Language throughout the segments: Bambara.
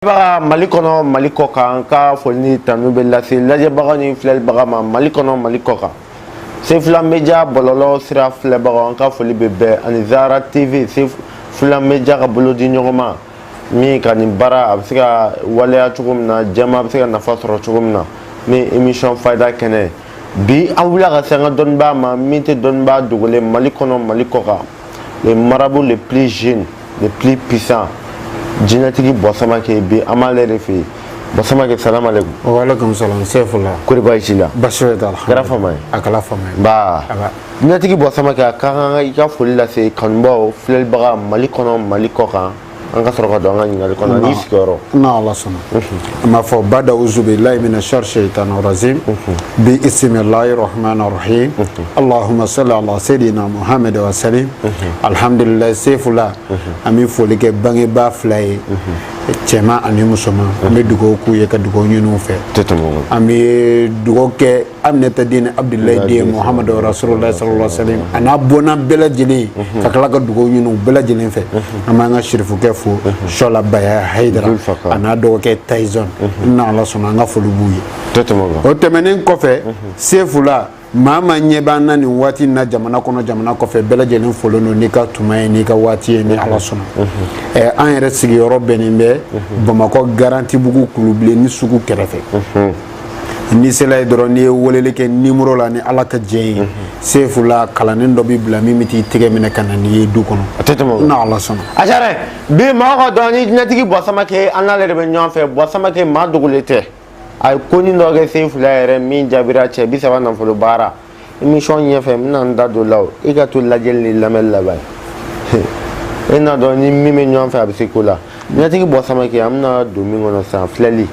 baga mali kɔnɔ mali kɔ kan ka foli ni tanu bɛ lase lajɛbaga ni filɛlibaga ma mali kɔnɔ mali kɔ kan sefula media bɔlɔlɔ sira filɛbagaw an ka foli bɛ bɛɛ ani zara tv sefula media ka bolo di ɲɔgɔn ma min ka nin baara a bɛ se ka waleya cogo min na jama bɛ se ka nafa sɔrɔ cogo min na nin émission fayida kɛnɛ bi an wulila ka se an ka dɔnbaa ma min tɛ dɔnbaa dogolen mali kɔnɔ mali kɔ kan les marabouts les plus jeunes les plus puissants jinɛtigi bɔsamakɛ bi an b'ale de fɛ yen bɔsamakɛ salamu aleykum waaleykum salam sefula kori baasi t'i la baasi foyi t'a la kɛra fama ye a kɛra fama ye nba jinɛtigi bɔsamakɛ a ka kan i ka foli lase kanubaaw filɛlibaga mali kɔnɔ mali kɔ kan an ka sɔrɔ ka don an ka ɲininkali kɔnɔ n'i sigiyɔrɔ ni ala sɔnna an b'a fɔ bada uzubilayi mina shari shaitan rajim bi isimilayi rahman rahim allahumma salli ala sayyidina muhammad wa salim alhamdulilayi sefula an bɛ foli kɛ bangebaa fila ye cɛman ani musoman an bɛ dugawu k'u ye ka dugawu ɲini u fɛ an bɛ dugawu kɛ Aminata den Abudulayi den Mohamadu rasulula salala salim a n'a bɔnna bɛɛ lajɛlen ka tila ka dugawu ɲini u bɛɛ lajɛlen fɛ an b'an ka sirifukɛ fo Sɔla Bayaya Hayidara a n'a dɔgɔkɛ Tayizɔn ni Ala sɔnna an ka foli b'u ye o tɛmɛnen kɔfɛ Sefula maa maa ɲɛ b'an na nin waati in na jamana kɔnɔ jamana kɔfɛ bɛɛ lajɛlen folen don n'i ka tuma ye n'i ka waati ye ni ala sɔnna ɛɛ an yɛrɛ sigiyɔrɔ bɛnnen bɛ bamakɔ garantibugu kulubilenni sugu kɛrɛfɛ n'i sela yen dɔrɔn n'i ye weleli kɛ numéro la ni ala ka jɛn ye sefula kalanden dɔ bi bila min bɛ t'i tɛgɛ minɛ ka na n'i ye du kɔnɔ ni ala sɔnna a diyara an ye bi maa k'a dɔn ni jinɛtigi bɔsamakɛ an n'ale de bɛ ɲɔgɔn fɛ bɔsamakɛ maa dogolen tɛ a ye konin dɔ kɛ sefula yɛrɛ min jaabira cɛ bi saba nafolo baara émission ɲɛfɛ n bɛna n da don o la o i ka to lajɛli ni lamɛnni la ban e n'a dɔn i ni min bɛ ɲɔgɔn fɛ a bɛ se ko la jinɛtigi bɔsamakɛ an bɛna don min kɔnɔ sisan filɛli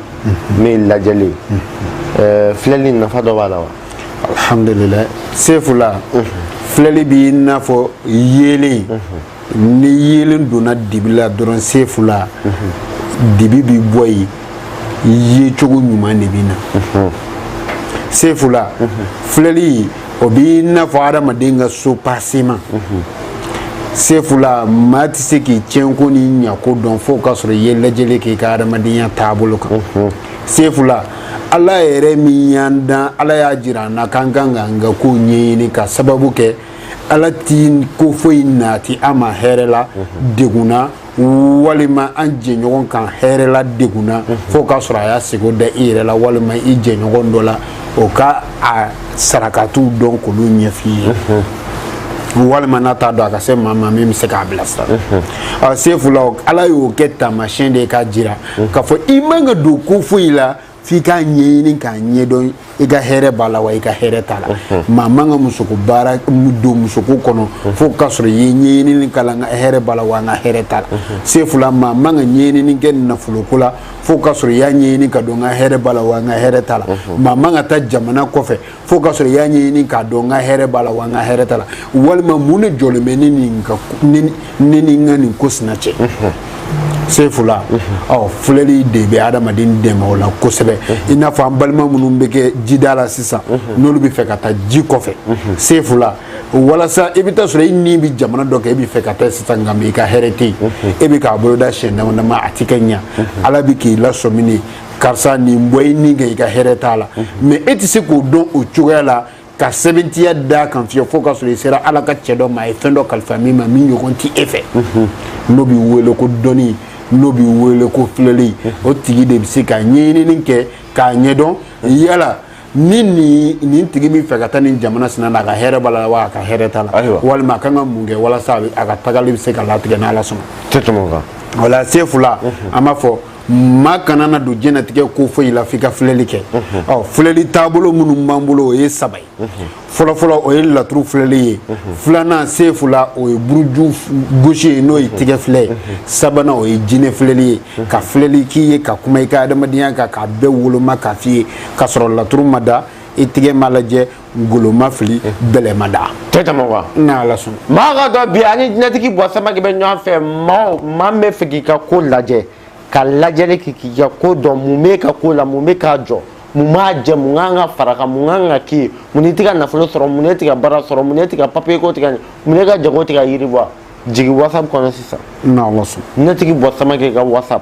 min ye lajɛli ye ɛɛ filɛli nafa dɔ b'a la wa. alhamdulilayi sefula filɛli b'i n'a fɔ yeelen. ni yeelen donna dibi la dɔrɔn sefula dibi bi bɔ yen yecogo ɲuman de bɛ na sefula filɛli o b'i n'a fɔ adamaden ka soubassement sefula maa tɛ se k'i tiɲɛko ni ɲako dɔn fo k'a sɔrɔ i ye lajɛli kɛ i ka adamadenya taabolo kan sefula ala yɛrɛ min y'an dan ala y'a jira an na k'an ka kan k'an ka kow ɲɛɲini ka sababu kɛ ala ti ko foyi nati an ma hɛrɛ la mhm. degunna walima an jɛɲɔgɔn kan hɛrɛ la degunna mhm. fo k'a sɔrɔ a y'a sego da i yɛrɛ la walima i jɛɲɔgɔn dɔ la o ka a sarakatiw dɔn k'olu ɲɛf'i ye mhm. walima n'a t'a dɔn a ka se maa ma min bɛ se k'a bilasira sefula ala y'o kɛ taamasiyɛn de ye k'a jira k'a fɔ i man ka don ko foyi la f'i k'a ɲɛɲini k'a ɲɛdɔn i ka hɛrɛ b'a la wa i ka hɛrɛ t'a la maa man ka musoko baara don musoko kɔnɔ fo k'a sɔrɔ i ye ɲɛɲinini k'a la n ka hɛrɛ b'a la wa n ka hɛrɛ t'a la sefula maa man ka ɲɛɲinini kɛ nafoloko la fo k'a sɔrɔ i y'a ɲɛɲini k'a dɔn n ka hɛrɛ b'a la wa n ka hɛrɛ t'a la maa man ka taa jamana kɔfɛ fo k'a sɔrɔ i y'a ɲɛɲini k'a dɔn n ka hɛrɛ b'a la wa n ka hɛrɛ t'a la walima mun de jɔlen bɛ ne ni n ka nin ko sina cɛ sefula ɔ filɛli de bɛ adamaden dɛmɛ o la kosɛbɛ i n'a fɔ an balima minnu bɛ kɛ jida la sisan n'olu bɛ fɛ ka taa ji kɔfɛ sefula walasa i bɛ t'a sɔrɔ i ni bɛ jamana dɔ kan e bɛ fɛ ka taa sisan nka i ka hɛrɛ tɛ yen e bɛ k'a boloda siɲɛ dama dama a tɛ ka ɲɛ ala bɛ k'i lasɔmini karisa nin bɔ i ni kan i ka hɛrɛ t'a la mɛ e tɛ se k'o dɔn o cogoya la ka sɛmɛntiya d'a kan fiyewu fo k'a sɔrɔ i sera ala ka cɛ dɔ ma a ye fɛn dɔ kalifa min ma min ɲɔgɔn tɛ e fɛ n'o bi wele ko dɔnni n'o bi wele ko filɛli o tigi de bɛ se ka ɲɛɲinini kɛ k'a ɲɛdɔn yala ni nin nin tigi min fɛ ka taa nin jamana sina na a ka hɛrɛ b'a la wa a ka hɛrɛ t'a la walima a kan ka mun kɛ walasa a ka tagali bɛ se ka latigɛ n'ala sɔnna tɛ tɛmɛ o kan wala sefula an b'a fɔ maa kana na don diɲɛlatigɛ ko foyi la f'i ka filɛli kɛ ɔ filɛli taabolo minnu b'an bolo o ye saba ye fɔlɔfɔlɔ o ye laturu filɛli ye filanan sefula o ye buruju gosi ye n'o ye tigɛ filɛ ye sabanan o ye jinɛ filɛli ye ka filɛli k'i ye ka kuma i ka adamadenya kan k'a bɛɛ woloma k'a f'i ye k'a sɔrɔ laturu ma da i tigɛ ma lajɛ kolon ma fili bɛlɛ ma da tɛ tɛmɛ wa n'ala sɔn maa k'a dɔn bi an ni jinɛtigi bɔ samaki bɛ ɲɔgɔn fɛ maa o maa min bɛ fɛ k'i ka ko lajɛ ka lajɛli kɛ k'i ka ko dɔn mun b'i ka ko la mun bɛ k'a jɔ mun b'a jɛ mun kan ka far'a kan mun kan ka k'i ye mun n'i tɛ ka nafolo sɔrɔ mun n'e tɛ ka baara sɔrɔ mun n'e ka papiye ko tɛ ka ɲɛ mun n'e ka jago tɛ ka yiriwa jigin whatsapp kɔnɔ sisan n'ala sɔn jinɛtigi bɔ samaki ka whatsapp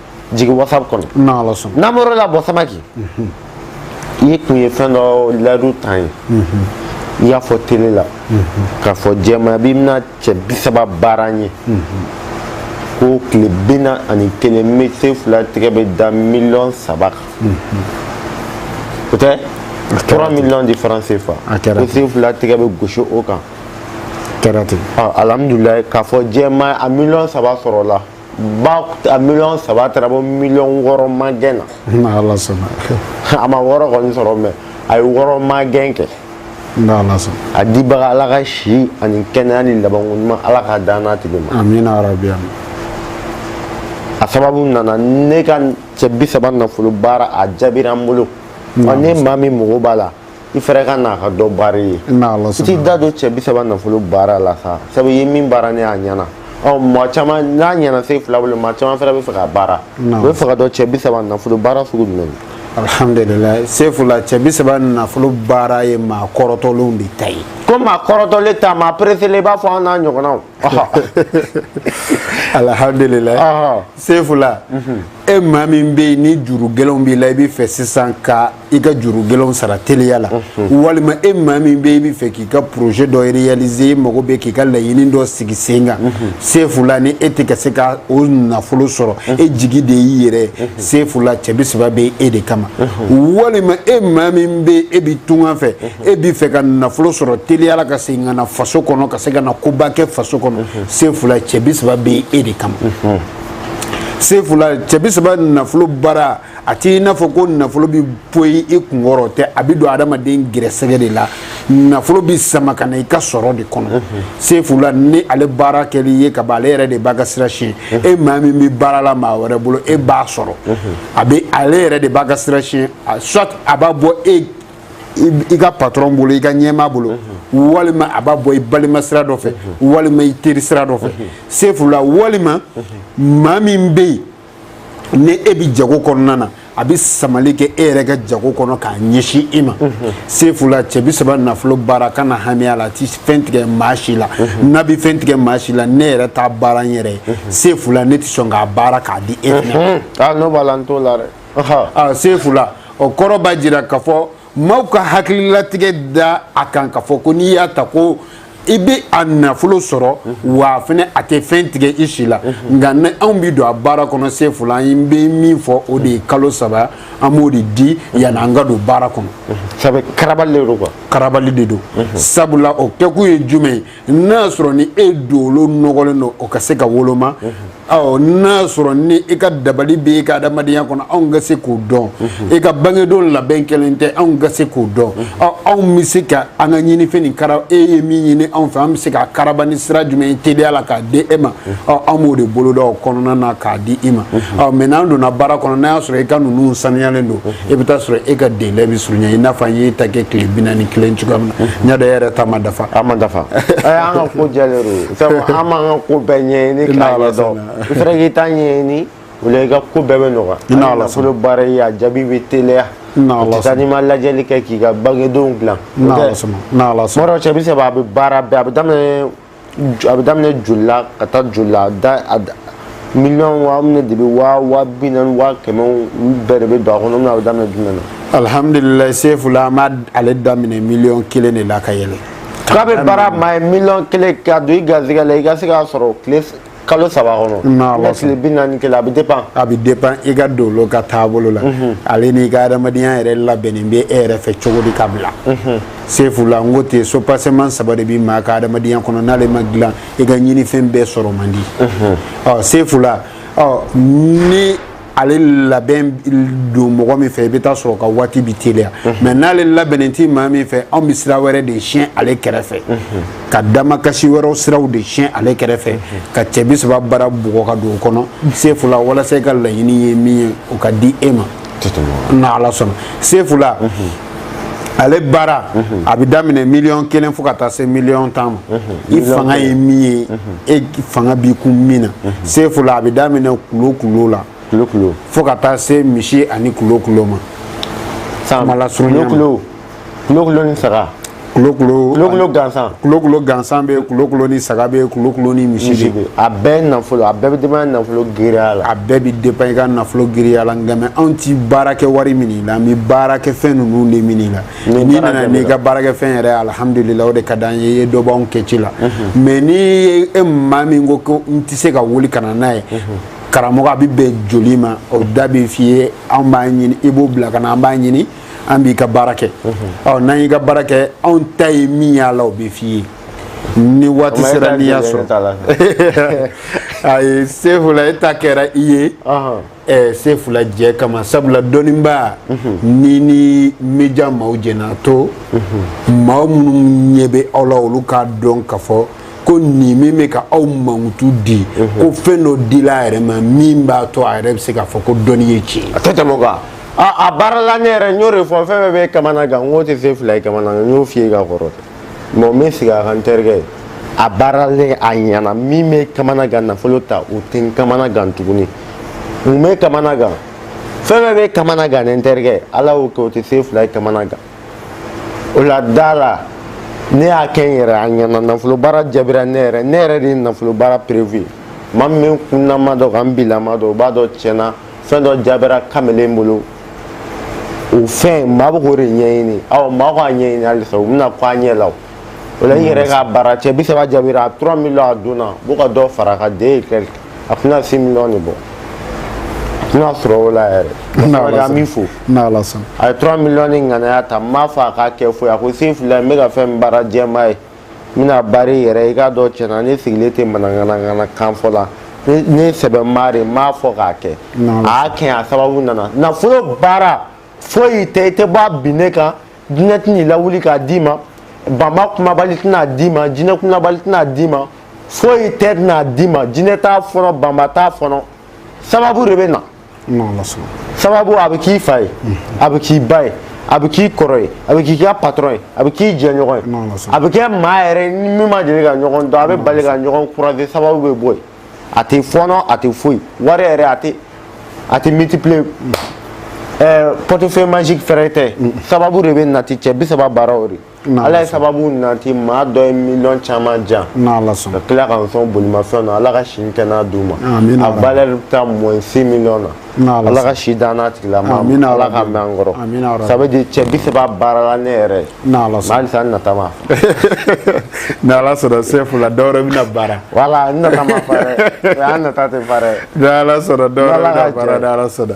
jigin whatsapp kɔnɔ n'ala sɔn n'an bɔra la bɔ samaki i tun ye fɛn dɔ layidu t'an ye i y'a fɔ tele la k'a fɔ jɛmaya bi bɛna cɛ bi saba baara ye ko tile bi naani ni kelen ne sefula tɛgɛ bɛ da miliyɔn saba kan o tɛ trois millions de francs CFA ko sefula tɛgɛ bɛ gosi o kan kɛra ten alhamdulilayi k'a fɔ jɛma a miliyɔn saba sɔrɔla ba a miliyɔn saba taara bɔ miliyɔn wɔɔrɔ magɛn na ala sɔnna a ma wɔɔrɔ kɔni sɔrɔ mɛ a ye wɔɔrɔ magɛn kɛ ala sɔnna a dibaga ala ka si ani kɛnɛya di labanko ɲuman ala k'a dan n'a tigi ma amina yarabi a sababu nana ne ka cɛ bi saba nafolo baara a jaabira n bolo n'e maa min mago b'a la i fɛnɛ ka n'a ka dɔ baara ye i t'i da don cɛ bi saba nafolo baara la sa sabu i ye min baara ne ye a ɲɛna ɔ maa caman n'a ɲɛna sefula bolo maa caman fɛnɛ bɛ fɛ k'a baara u bɛ fɛ k'a dɔn cɛ bi saba nafolo baara sugu jumɛn alhamdulilayi sefula cɛ bi saba nafolo baara ye maa kɔrɔtɔlenw de ta ye ko maa kɔrɔtɔlen ta maa pereselen i b'a fɔ an n'a ɲɔgɔnnaw alihamdulilayi sefula e maa min bɛ yen ni juru gɛlɛnw b'i la i bɛ fɛ sisan ka i ka juru gɛlɛnw sara teliya la walima e maa min bɛ yen i bɛ fɛ k'i ka projet dɔ réaliser i mago bɛ k'i ka laɲini dɔ sigi sen kan sefula ni e tɛ ka se ka o nafolo sɔrɔ e jigi de y'i yɛrɛ ye sefula cɛ bi saba bɛ e de kama walima e maa min bɛ yen e bɛ tunga fɛ e bɛ fɛ ka nafolo sɔrɔ teliya la ka segin ka na faso kɔnɔ ka se ka na koba kɛ faso kɔnɔ sefula cɛ bi saba bɛ e de kama sefula cɛ bi saba nafolo baara a t'i n'a fɔ ko nafolo bɛ poyi i kunkɔrɔ tɛ a bɛ don adamaden gɛrɛsɛgɛ de la nafolo bɛ sama ka na i ka sɔrɔ de kɔnɔ sefula ni ale baara kɛli ye ka ban ale yɛrɛ de b'a ka sira siɲɛ e maa min bɛ baara la maa wɛrɛ bolo e b'a sɔrɔ a bɛ ale yɛrɛ de b'a ka sira siɲɛ soit a b'a bɔ e i ka patron bolo i ka ɲɛmaa bolo mhm. walima a b'a bɔ i balima sira dɔ fɛ mhm. walima i teri sira dɔ fɛ mhm. sefula walima maa min bɛ yen ni e bɛ jago kɔnɔna na a bɛ samali kɛ e yɛrɛ ka jago kɔnɔ k'a ɲɛsin i ma sefula cɛ bi saba nafolo baara kana hami a la a ti fɛn tigɛ maa si la n'a bɛ fɛn tigɛ maa si la ne yɛrɛ t'a baara n yɛrɛ ye sefula ne tɛ sɔn k'a baara k'a di e fana ma. n'o b'a la n t'o la dɛ. a sefula o kɔrɔ b'a jira k'a fɔ maaw ka hakililatigɛ da a kan k'a fɔ ko n'i y'a ta ko i bɛ a nafolo sɔrɔ wa fana a tɛ fɛn tigɛ i si la nka ni anw bɛ don a baara kɔnɔ sefula an bɛ min fɔ o de ye kalo saba an b'o de di yanni an ka don baara kɔnɔ sabu karabali de don karabali de don sabula o kɛkun ye jumɛn ye n'a y'a sɔrɔ ni e dolo nɔgɔlen don o ka se ka woloma ɔ n'a y'a sɔrɔ ni e ka dabali bɛ e ka adamadenya kɔnɔ anw ka se k'o dɔn e ka bangedon labɛn kɛlen tɛ anw ka se k'o dɔn ɔ anw bɛ se ka an ka ɲinifɛn nin kara e ye min ɲini anw fɛ an bɛ se k'a karaba ni sira jumɛn ye teliya la k'a di e ma ɔ an b'o de boloda o kɔnɔna na k'a di i ma ɔ mɛ n'an donna baara kɔnɔ n'a y'a sɔrɔ i ka ninnu saniyalen don e bɛ taa sɔrɔ e ka délai bɛ surunya i n'a fɔ an y'e ta kɛ tile bi naani kelen cogoya min na n y'a dɔn e yɛrɛ ta ma dafa a ma dafa an ka ko jɛlen don sabu an b'an ka ko bɛɛ ɲɛɲini k'a ɲɛdɔn i fana k'i ta ɲɛɲini o la i ka ko bɛɛ bɛ nɔgɔya hali nafolo baara ye a jaabi bɛ teliya o tɛ taa n'i ma lajɛli kɛ k'i ka bangedenw dilan o tɛ tuma dɔw cɛ bi saba a bɛ baara bɛɛ a bɛ daminɛ a bɛ daminɛ joli la ka taa joli la da miliyɔn waa minnu de bɛ waa waa bi naani waa kɛmɛ olu bɛɛ de bɛ don a kɔnɔ n'a bɛ daminɛ jumɛn na. alihamdulilayi sefula an b'a ale daminɛ miliyɔn kelen de la ka yɛlɛ. k'a bɛ baara maa ye miliyɔn kelen ka don i garijɛgɛ la i ka se k'a sɔrɔ tile kalo saba kɔnɔ ni tile bi naani kelen a bɛ dépend a bɛ dépend i ka dolo ka taabolo la mhm. ale n'i ka adamadenya yɛrɛ labɛnnen bɛ e yɛrɛ fɛ cogo di ka bila mhm. sefula n ko ten soubassement saba de bɛ maa ka adamadenya kɔnɔ n'ale ma dilan i ka ɲinifɛn bɛɛ sɔrɔ man di mhm. ɔ sefula ɔ ni ale labɛn don mɔgɔ min fɛ i bɛ taa sɔrɔ ka waati bɛ teliya mɛ n'ale labɛnnen tɛ maa min fɛ anw bɛ sira wɛrɛ de siɲɛ ale kɛrɛfɛ ka damakasi wɛrɛw siraw de siɲɛ ale kɛrɛfɛ ka cɛ bi saba baara bugɔ ka don o kɔnɔ sefula walasa i ka laɲini ye min ye o ka di e ma n'ala sɔnna sefula ale baara a bɛ daminɛ miliyɔn kelen fo ka taa se miliyɔn tan ma i fanga ye min ye e fanga b'i kun min na sefula a bɛ daminɛ kulokulo la fo ka taa se misi ani kulokulo ma kulokulo ni saga kulokulo gansan kulokulo gansan bɛ kulokulo ni saga bɛ kulokulo ni misi bɛ a bɛɛ nafolo a bɛɛ bɛ dépend nafolo giriya la a bɛɛ bɛ dépend i ka nafolo giriya la nka mɛ anw ti baara kɛ wari min la an bɛ baara kɛ fɛn ninnu de min la n'i nana n'i ka baarakɛfɛn yɛrɛ alihamudulila o de ka d'an ye i ye dɔ b'anw ka ci la mɛ n'i ye e maa min ko ko n tɛ se ka wuli ka na n'a ye karamɔgɔ a bɛ bɛn joli ma o da bɛ f'i ye anw b'a ɲini i b'o bila ka na an b'a ɲini an b'i ka baara kɛ ɔ n'an y'i ka baara kɛ anw ta ye min y'a la o bɛ f'i ye ni waati sera n'i y'a sɔrɔ ayi sefula e ta kɛra i ye ɛɛ sefula jɛ kama sabula dɔnnibaa ni ni média maaw jɛna to maa minnu ɲɛ bɛ aw la olu k'a dɔn k'a fɔ ko nin min bɛ ka aw mankutu di ko fɛn dɔ dila a yɛrɛ ma min b'a to a yɛrɛ bɛ se k'a fɔ ko dɔnni ye tiɲɛ ye a tɛ tɛmɛ o kan a baarala ne yɛrɛ n y'o de fɔ fɛn fɛn bɛ kamana gan n k'o tɛ sefula ye kamana gan n y'o f'i ye ka kɔrɔ mɛ n bɛ sigi a kan n terikɛ ye a baaralen a ɲɛna min bɛ kamana gan nafolo ta o tɛ n kamana gan tuguni mun bɛ kamana gan fɛn fɛn bɛ kamana gan ne n terikɛ ala y'o kɛ o tɛ sefula ye kamana gan o la da la ne y'a kɛ n yɛrɛ a ɲɛna nafolo baara jaabira ne yɛrɛ ne yɛrɛ de ye nafolo baara preuve ye maa min bɛ n kunna ma dɔn ka n bila ma dɔn o b'a dɔn tiɲɛ na fɛn dɔ jaabira kamalen bolo o fɛn maa bɛ k'o de ɲɛɲini awɔ maa k'a ɲɛɲini halisa u bɛna k'a ɲɛ la o o la i yɛrɛ ka baara cɛ bi saba jaabira a trois millions a donna b'o ka dɔ fara a ka den ye kɛlɛ a tɛna six millions de bɔ a tɛna sɔrɔ o la yɛrɛ sabali an b'i fo n'ala sɔnna a ye trois millions ni ŋanaya ta n m'a fɔ a k'a kɛ foyi a ko sefula n bɛ ka fɛn min baara jɛma ye n bɛna baara yɛrɛ i k'a dɔn tiɲɛ na ne sigilen tɛ mananganangana kan fɔ la ne sɛbɛ maa de m'a fɔ k'a kɛ a y'a kɛ a sababu nana nafolo baara foyi tɛ i tɛ bɔ a binnen kan jinɛ tɛna i lawuli k'a d'i ma banba kumabali tɛna a d'i ma jinɛ kumabali tɛna a d'i ma foyi tɛ tɛna a d'i ma jinɛ t'a fɔnɔ banba t'a fɔnɔ sababu de bɛ na sababu a bɛ k'i fa ye a bɛ k'i ba ye a bɛ k'i kɔrɔ ye a bɛ k'i ka patɔrɔn ye a bɛ k'i jɛɲɔgɔn ye a bɛ kɛ maa yɛrɛ ni min ma deli ka ɲɔgɔn dɔn a bɛ bali ka ɲɔgɔn croiser sababu bɛ bɔ yen a tɛ fɔɔnɔ a tɛ foyi wari yɛrɛ a tɛ a tɛ multiplier ɛɛ portefeuille magique fɛɛrɛ tɛ sababu de bɛ nati cɛ bi saba baara o de ala ye sababu nati maa dɔ ye miliyɔn caman jan ka tila ka n sɔn bolimafɛn na ala ka si ni kɛnɛ d'u ma a valeur taa moins six millions na ala ka si d'an n'a tigila ma ala ka mɛn an kɔrɔ ça veut dire cɛ bi saba baarala ne yɛrɛ ye mais halisa n nata ma ni ala sɔnna sefula dɔwɛrɛ bɛna baara voilà n nata ma fa dɛ an nata tɛ fa dɛ ni ala sɔnna dɔwɛrɛ bɛna baara ni ala sɔnna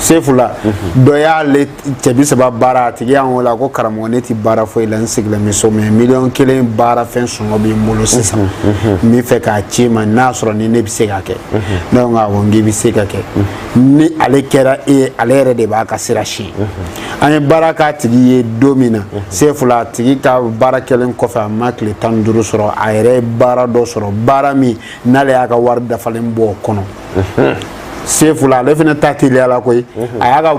sefula dɔ y'ale cɛ bi saba baara a tigi y'an wele a ko karamɔgɔ ne tɛ baara foyi la n sigilen bɛ so mais miliyɔn kelen baara fɛn sɔngɔ bɛ n bolo sisan n bɛ fɛ k'a c'i ma n'a sɔrɔ ni ne bɛ se k'a kɛ ne ko awɔ n k'i bɛ se ka kɛ ni ale kɛra e ye ale yɛrɛ de b'a ka sira ci an ye baara k'a tigi ye don min na sefula a tigi ka baara kɛlen kɔfɛ a ma tile tan ni duuru sɔrɔ a yɛrɛ ye baara dɔ sɔrɔ baara min n'ale y'a ka wari dafalen bɔ o kɔnɔ sefula ale fana ta teliya la koyi a y'a ka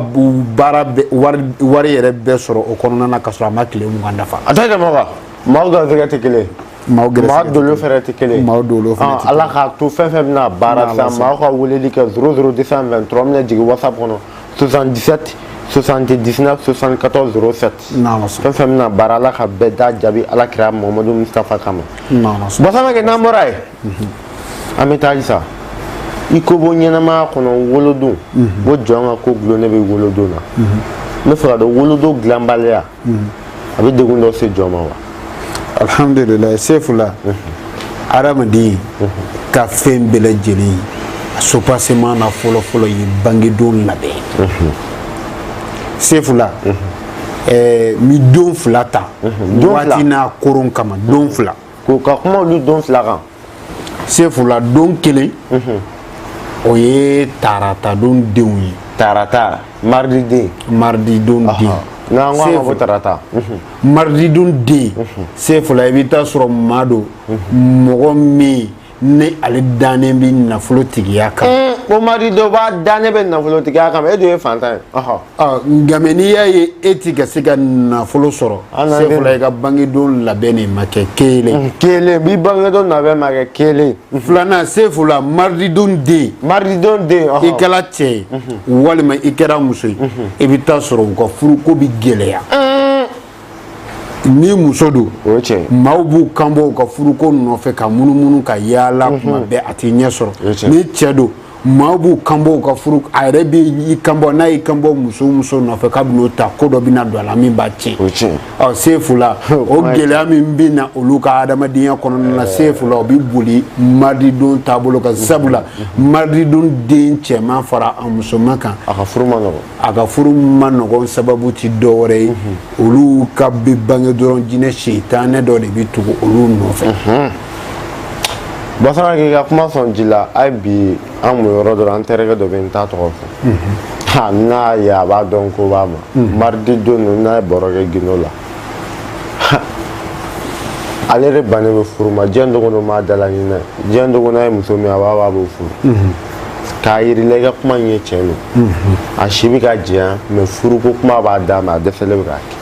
baara wari yɛrɛ bɛɛ sɔrɔ o kɔnɔna na ka sɔrɔ a ma tile mugan dafa a tɛ tɛmɛ o kan maaw garisɛgɛ tɛ kelen maaw garisɛgɛ dolo fɛnɛ tɛ kelen maaw dolo fɛnɛ tɛ ala k'a to fɛn fɛn bɛna baara sisan maaw ka weleli kɛ zéro zéro deux cent vingt-trois minɛ jigin whatsapp kɔnɔ 77 79 74 07 fɛn fɛn bɛna baara ala ka bɛɛ ta jaabi ala kira mamadu mustafa kama bɔsana kɛ n'an bɔra yen mhm. an bɛ taa halisa i ko bɔ ɲɛnamaya kɔnɔ wolodon ko jɔn ka ko gulon ne bɛ wolodon na n mhm. bɛ fɛ k'a dɔn wolodon dilanbaliya mhm. a bɛ degun dɔ se jɔn ma wa alhamdulilayi sefula adamaden ka fɛn bɛɛ lajɛlen a soubassement na fɔlɔfɔlɔ ye bangedon labɛn sefula mi don fila ta waati n'a koron kama don fila k'o ka kuma olu don fila kan sefula don kelen o ye tarata don denw ye tarata maridi den maridi don den n'an ko a ma ko tarata maridi don den sefula i bɛ taa sɔrɔ maa don mɔgɔ min ni ale dannen bɛ nafolo tigiya kan. o maridi don b'a dannen bɛ nafolo tigiya kan e dun ye fantan ye. nka mɛ n'i y'a ye e ti ka se ka nafolo sɔrɔ. sefula i ka bangedon labɛn de ma kɛ kelen. kelen bi bangedon labɛn ma kɛ kelen. filanan sefula marididon den. marididon den. i kɛra cɛ ye. walima i kɛra muso ye. i bɛ taa sɔrɔ u ka furuko bɛ gɛlɛya. ni muso don maaw b'u kanbɔ u ka furuko nɔfɛ ka munumunu ka yaala mhm. kuma bɛɛ a ti ɲɛ sɔrɔ ni cɛ don maaw b'u kanbɔ u ka furu a yɛrɛ b'i kanbɔ n'a y'i kanbɔ muso muso nɔfɛ k'a bɛn'o ta ko dɔ bɛna don a la min b'a tiɲɛ ɔ sefula o gɛlɛya min bɛ na olu ka adamadenya kɔnɔna na eh. sefula o bɛ boli marididon taabolo kan sabula marididon den cɛman fara a musoman kan a ka furu man nɔgɔn a ka furu man nɔgɔn sababu ti dɔwɛrɛ ye mhm. olu ka bɛ bange dɔrɔn jinɛ seitanɛ dɔ de bɛ tugu olu nɔfɛ mhm. basara k'i ka kuma sɔn ji la hali bi an mun yɔrɔ dɔ la an terikɛ dɔ bɛ n t'a tɔgɔ fɔ mhm. n'a ye a b'a dɔn ko n b'a ma maridi don n'a ye baro kɛ gindo la ale de bannen bɛ furu ma diɲɛ dogo don maa dala ɲinɛ diɲɛ dogo n'a ye muso min a b'a b'a b'o furu mhm. k'a yirila i ka kuma in ye tiɲɛ don mhm. a si bɛ ka jɛya mɛ furuko kuma b'a da mɛ a dɛsɛlen bɛ k'a kɛ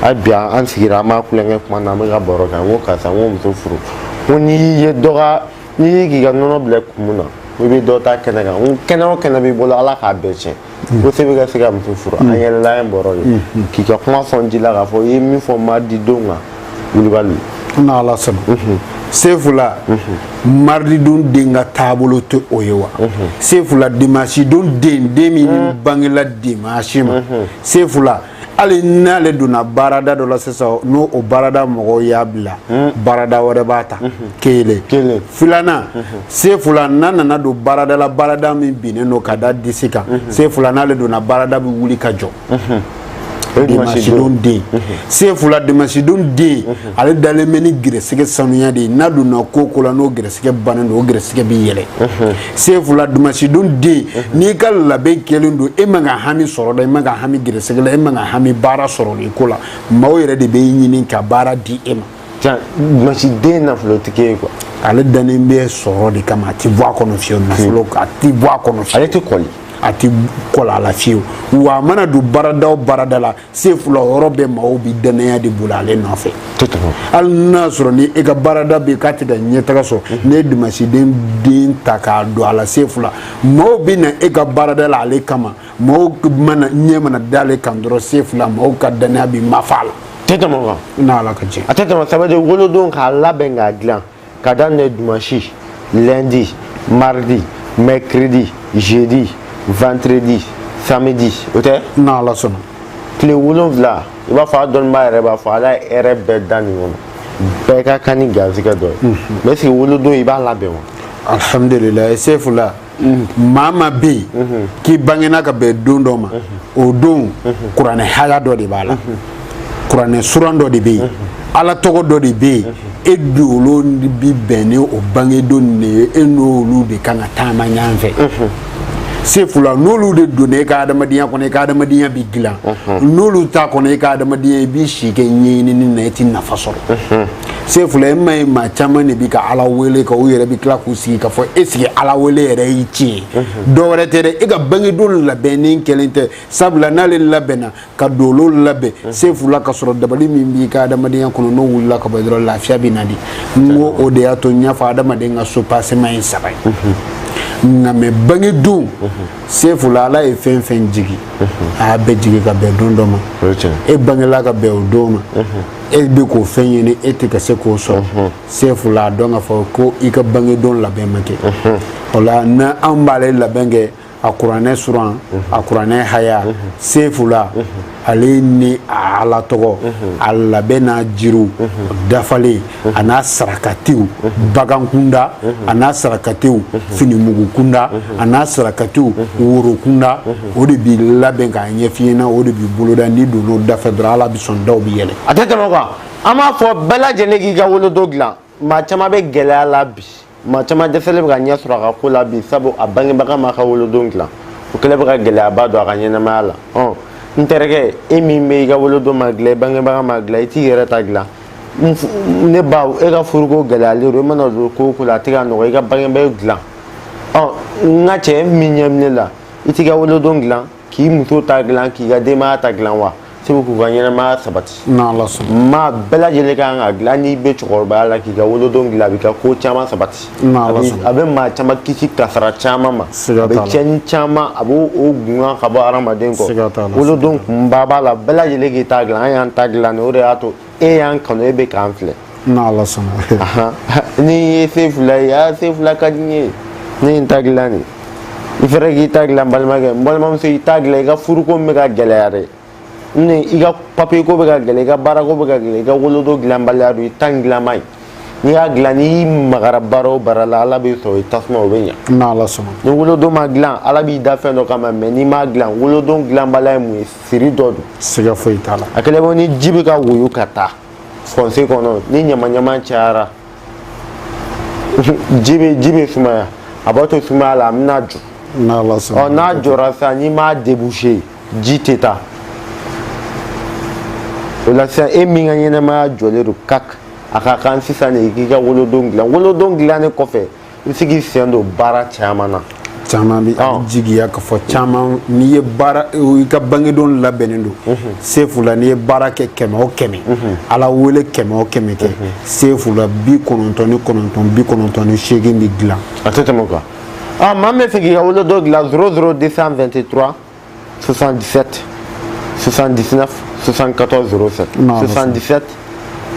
hali bi an sigira an b'a tulonkɛ kuma na an bɛ ka baro kɛ n ko karisa n ko muso furu n ko n'i y'i ye dɔ ka n'i y'i k'i ka nɔnɔ bila kumu na i bɛ dɔ ta kɛnɛ kan n ko kɛnɛ o kɛnɛ b'i bolo ala k'a bɛɛ tiɲɛ ko se bɛ ka se ka muso furu an yɛlɛla ye bɔrɔ ye k'i ka kuma sɔn ji la k'a fɔ i ye min fɔ maridi don kan wulibali n'ala sɔnna sefula marididon den ka taabolo tɛ o ye wa sefula dimasidon den den min bangela dimasi ma sefula hali n'ale donna baarada dɔ la sisan n'o o baarada mɔgɔw y'a bila hmm. baarada wɛrɛ b'a ta hmm. kelen filanan hmm. sefula n'a nana don baarada la baarada min binnen don ka da disi kan sefula n'ale donna baarada bɛ wuli ka jɔ dimasidon den sefula dimasidon den ale dalen bɛ ni gɛrɛsɛgɛ sanuya de ye n'a donna ko o ko la n'o gɛrɛsɛgɛ bannen don o gɛrɛsɛgɛ bɛ yɛlɛ sefula dimasidon den n'i ka labɛn kɛlen don e man ka hami sɔrɔ la e man ka hami gɛrɛsɛgɛ la e man ka hami baara sɔrɔli ko la maaw yɛrɛ de bɛ e ɲini ka baara di e ma tiɲɛ dimasiden nafolotigi ye kuwa ale dannen bɛ sɔrɔ de kama a tɛ bɔ a kɔnɔ fiyewu nafolo a tɛ bɔ a kɔnɔ fiyewu ale tɛ kɔli a tɛ kɔli a la fiyewu wa a mana don baarada o baarada la sefula yɔrɔ bɛɛ maaw bi dannaya de bolo ale nɔfɛ hali n'a sɔrɔ ni e ka baarada bɛ k'a tɛ ka ɲɛtaga sɔrɔ mhm. n'e ye dimanche don den ta k'a don a la sefula maaw bɛ na e ka baarada la ale kama maaw ɲɛ mana da ale kan dɔrɔn sefula maaw ka dannaya bi mafa a la tɛ tɛmɛ o kan n'ala ka jɛ a tɛ tɛmɛ ça veut dire wolodon k'a labɛn k'a dilan ka daminɛ dimanche lundi mardi mercredi jeudi vendredi samedi o tɛ n'ala sɔnna tile wolonwula i b'a fɔ a dɔnnibaa yɛrɛ b'a fɔ ala ye hɛrɛ bɛɛ da nin kɔnɔ bɛɛ ka kan ni garizigɛ dɔ ye mais est-ce que wolodon i b'a labɛn wa alhamdulilayi sefula maa maa bɛ yen k'i bangena ka bɛn don dɔ ma o don kuranɛ haya dɔ de b'a la kuranɛ suran dɔ de bɛ yen ala tɔgɔ dɔ de bɛ yen e dolo bi bɛn ni o bangedon nin de ye e n'olu de kan ka taama ɲɔgɔn fɛ sefula n'olu de donna e ka adamadenya kɔnɔ e ka adamadenya bɛ dilan n'olu t'a kɔnɔ e ka adamadenya i b'i si kɛ ɲɛɲinini na e tɛ nafa sɔrɔ sefula e ma ye maa caman de bi ka ala wele ka u yɛrɛ bi tila k'u sigi k'a fɔ est-ce que ala wele yɛrɛ ye tiɲɛ mhm. dɔ wɛrɛ tɛ dɛ e ka bangedon labɛnnen kɛlen tɛ sabula n'ale labɛnna ka dolo labɛn mhm. sefula ka sɔrɔ dabali min b'i ka adamadenya kɔnɔ n'o wulila ka bɔ dɔrɔn lafiya bɛ na di n ko o de y'a to n y'a fɔ adamaden ka soubassement ye saba ye mhm. nka mais bangedon sefula ala ye fɛn fɛn jigi a y'a bɛɛ jigi ka bɛn don dɔ ma e bangela ka bɛn o don ma e bɛ k'o fɛn ɲini e tɛ ka se k'o sɔrɔ sefula a dɔn k'a fɔ ko i ka bangedon labɛn ma kɛ o la ni an b'ale labɛn kɛ a kuranɛ suran a kuranɛ haya sefula ale ni a ala tɔgɔ a labɛn n'a jiriw dafalen a n'a sarakatiw bagan kunda a n'a sarakatiw finimugu kunda a n'a sarakatiw woro kunda o de b'i labɛn k'a ɲɛf'i ɲɛna o de b'i boloda n'i donn'o dafɛ dɔrɔn ala bi sɔn daw bi yɛlɛ a tɛ tɛmɛ o kan an b'a fɔ bɛɛ lajɛlen k'i ka wolodon dilan maa caman bɛ gɛlɛya la bi maa caman dɛsɛlen bɛ ka ɲɛ sɔrɔ a ka ko la bi sabu a bangebaga m'a ka wolodon dilan o kɛlen bɛ ka gɛlɛyaba don a ka ɲɛnamaya la ɔn n terikɛ e min bɛ i ka wolodon ma dilan i bangebaga m'a dilan i t'i yɛrɛ ta dilan ne ba e ka furuko gɛlɛyalen don i mana don ko o ko la a tɛ ka nɔgɔ i ka bangebaaw dilan ɔ n ka cɛ min ɲɛ bɛ ne la i t'i ka wolodon dilan k'i muso ta dilan k'i ka denbaya ta dilan wa sabu k'u ka ɲɛnamaya sabati maa bɛɛ lajɛlen kan k'a dilan n'i bɛ cɛkɔrɔbaya la k'i ka wolodon dilan a b'i ka ko caman sabati a bɛ maa caman kisi kasara caman ma a bɛ cɛni caman a b'o o gungan ka bɔ hadamaden kɔ wolodon kunba b'a la bɛɛ lajɛlen k'i ta dilan an y'an ta dilan de o de y'a to e y'an kanu e bɛ k'an filɛ n'ala sɔnna nin ye sefula ye aa sefula ka di n ye ne ye n ta dilan de i fɛrɛ k'i ta dilan balimakɛ n balimamuso i ta dilan i ka furuko bɛ ka gɛlɛya dɛ ne i ka papiye ko bɛ ka gɛlɛya i ka baarako bɛ ka gɛlɛya i ka wolodon dilanbaliya don i ta in dilan man ɲi n'i y'a dilan n'i magara baara o baara la ala b'i sɔrɔ i tasuma o bɛ ɲa n'ala sɔnna ni wolodon ma dilan ala b'i da fɛn dɔ kama mais n'i m'a dilan wolodon dilanbaliya ye mun ye siri dɔ don siga foyi t'a la a kɛlen ko ni ji bɛ ka woyo ka taa fossé kɔnɔ ni ɲamaɲama cayara ji bɛ ji bɛ sumaya a b'a to sumaya la a bɛna jɔ ɔ n'a jɔra sisan n'i m'a débouché ji tɛ taa o la sisan e min ka ɲɛnamaya jɔlen don kak a ka kan sisan de i k'i ka wolodon dilan wolodon dilannen kɔfɛ i bɛ se k'i sen don baara caman na caman bɛ a bɛ jigiya ka fɔ caman n'i ye baara i ka bangedon labɛnnen don sefula n'i ye baara kɛ kɛmɛ o kɛmɛ ala wele kɛmɛ o kɛmɛ kɛ sefula bi kɔnɔntɔn ni kɔnɔntɔn bi kɔnɔntɔn ni seegin bɛ dilan a tɛ tɛmɛ o kan aa maa min b'a fɛ k'i ka wolodon dilan zéro zéro 223 77 79 74 07 77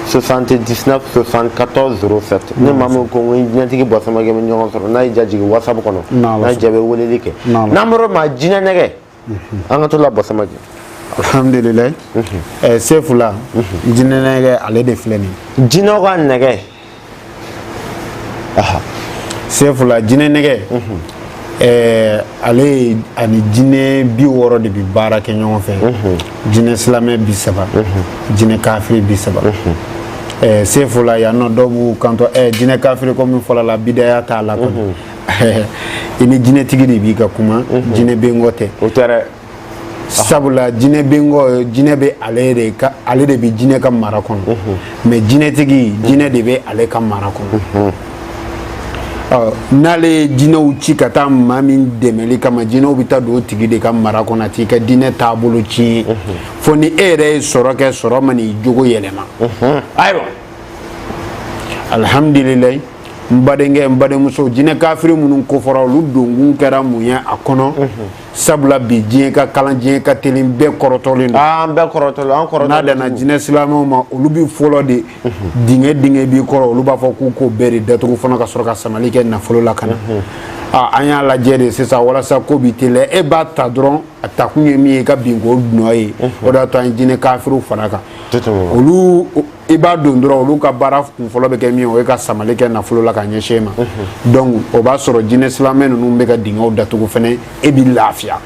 79 74 07 ni maa min ko n jinɛtigi bɔ samakɛ bɛ ɲɔgɔn sɔrɔ n'a y'i diya jigin whatsapp kɔnɔ n'a y'i diya i bɛ weleli kɛ n'an bɔra maa jinɛ nɛgɛ an ka to la bɔ samakɛ alhamdulilayi sefula jinɛ nɛgɛ ale de filɛ nin jinɛw ka nɛgɛ sefula jinɛ nɛgɛ ɛɛ ale ani jinɛ bi wɔɔrɔ de bɛ baara kɛ ɲɔgɔn fɛ jinɛ silamɛ bi saba jinɛ kafiri bi saba ɛɛ sefula yan nɔ dɔw b'u kanto ɛɛ jinɛ kafiri ko min fɔla la bidaya t'a la kɔni i ni jinɛtigi de bi ka kuma jinɛ bɛ n kɔ tɛ o tɛ dɛ sabula jinɛ bɛ n kɔ jinɛ bɛ ale de ka ale de bɛ jinɛ ka mara kɔnɔ mhm. mais jinɛtigi jinɛ de bɛ ale ka mara kɔnɔ mhm. ɔ n'ale ye jinɛw ci ka taa maa min dɛmɛli kama jinɛw bɛ taa don o tigi de ka mara kɔnɔ a t'i ka diinɛ taabolo tiɲɛ mhm. fo ni e yɛrɛ ye sɔrɔ kɛ sɔrɔ man'i jogo yɛlɛma ayiwa alihamdulilayi n badenkɛ n badenmuso jinɛ kafiri minnu kofɔra olu donkun kɛra mun ye a kɔnɔ sabula bi diɲɛ ka kalan diɲɛ ka teli bɛɛ kɔrɔtɔlen don an bɛɛ kɔrɔtɔlen an kɔrɔtɔlen n'a danna jinɛ silamɛw ma olu bi fɔlɔ de dingɛ dingɛ b'i kɔrɔ olu b'a fɔ k'u k'o bɛɛ de datugu fana ka sɔrɔ ka samali kɛ nafolo la ka na an y'a lajɛ de sisan walasa ko bi teliya e b'a ta dɔrɔn a takun ye min ye i ka bin k'o nɔ ye o de y'a to an ye jinɛ kafiriw fara kan olu i b'a don dɔrɔn olu ka baara kunfɔlɔ bɛ kɛ min o ye ka samali kɛ nafolo la ka ɲɛsin e ma donc o b'a sɔrɔ jinɛ silamɛ ninnu bɛ ka dingɛw datugu fɛnɛ e bɛ lafiya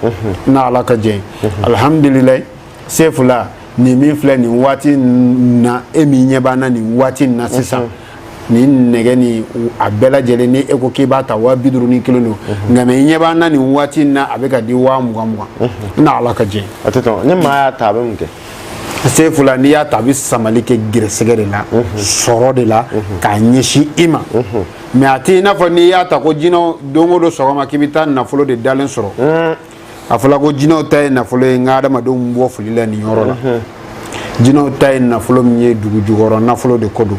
n'a ala ka jɛ alihamudulilayi sefula nin min filɛ nin waati na e min ɲɛ b'an na nin waati na sisan nin nɛgɛ ni a bɛɛ lajɛlen ni e ko k'i b'a ta waa bi duuru ni kelen don nka mɛ i ɲɛ b'an na nin waati na a bɛ ka di waa mugan mugan n'a ala ka jɛ a tɛ tɔn ni maa y'a ta a bɛ mun kɛ sefula n'i y'a ta a bɛ samali kɛ gɛrɛsɛgɛ de la sɔrɔ de la k'a ɲɛsin i ma mɛ a tɛ i n'a fɔ n'i y'a ta ko jinɛw don o don sɔgɔma k'i bɛ taa nafolo de dalen sɔrɔ a fɔra ko jinɛw ta ye nafolo ye n ka adamadenw bɔ fili la nin yɔrɔ la jinɛw ta ye nafolo min ye dugu jukɔrɔ nafolo de ko don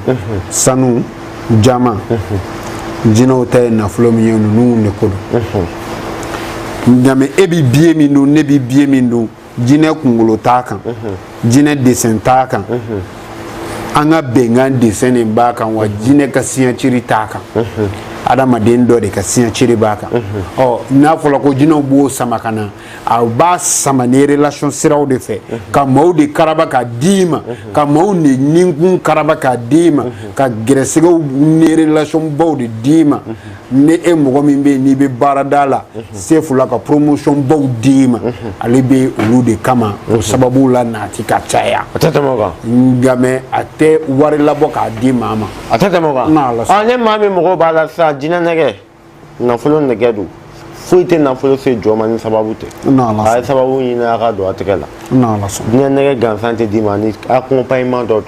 sanu jaman jinɛw ta ye nafolo min ye ninnu de ko don nka mɛ e bɛ biye min dun ne bɛ biye min dun jinɛ kunkolo t'a kan jinɛ desen t'a kan an ka bɛnkan desen de b'a kan wa jinɛ ka siɲɛciri t'a kan adamaden dɔ de ka siɲɛciri b'a kan ɔ n'a fɔra ko jinɛw b'o sama ka na a b'a sama ni relation siraw de fɛ ka maaw de karaba k'a d'i ma ka maaw de ninkun karaba k'a d'i ma ka gɛrɛsɛgɛw ni relation baw de d'i ma ni e mɔgɔ min bɛ yen n'i bɛ baarada la sefula ka promotion baw d'i ma ale bɛ olu de kama o sababu la naati ka caya a tɛ tɛmɛ o kan nka mɛ a tɛ wari labɔ k'a di maa ma a tɛ tɛmɛ o kan N'a ala sɔnna. ɔ ni maa min mago b'a la sisan jinɛ nɛgɛ nafolo nɛgɛ don foyi tɛ nafolo se jɔn ma ni sababu tɛ N'a ala sɔnna. a ye sababu ɲini a ka don a tɛgɛ la N'a ala sɔnna. jinɛ nɛgɛ gansan tɛ d'i ma ni accompagnement dɔ don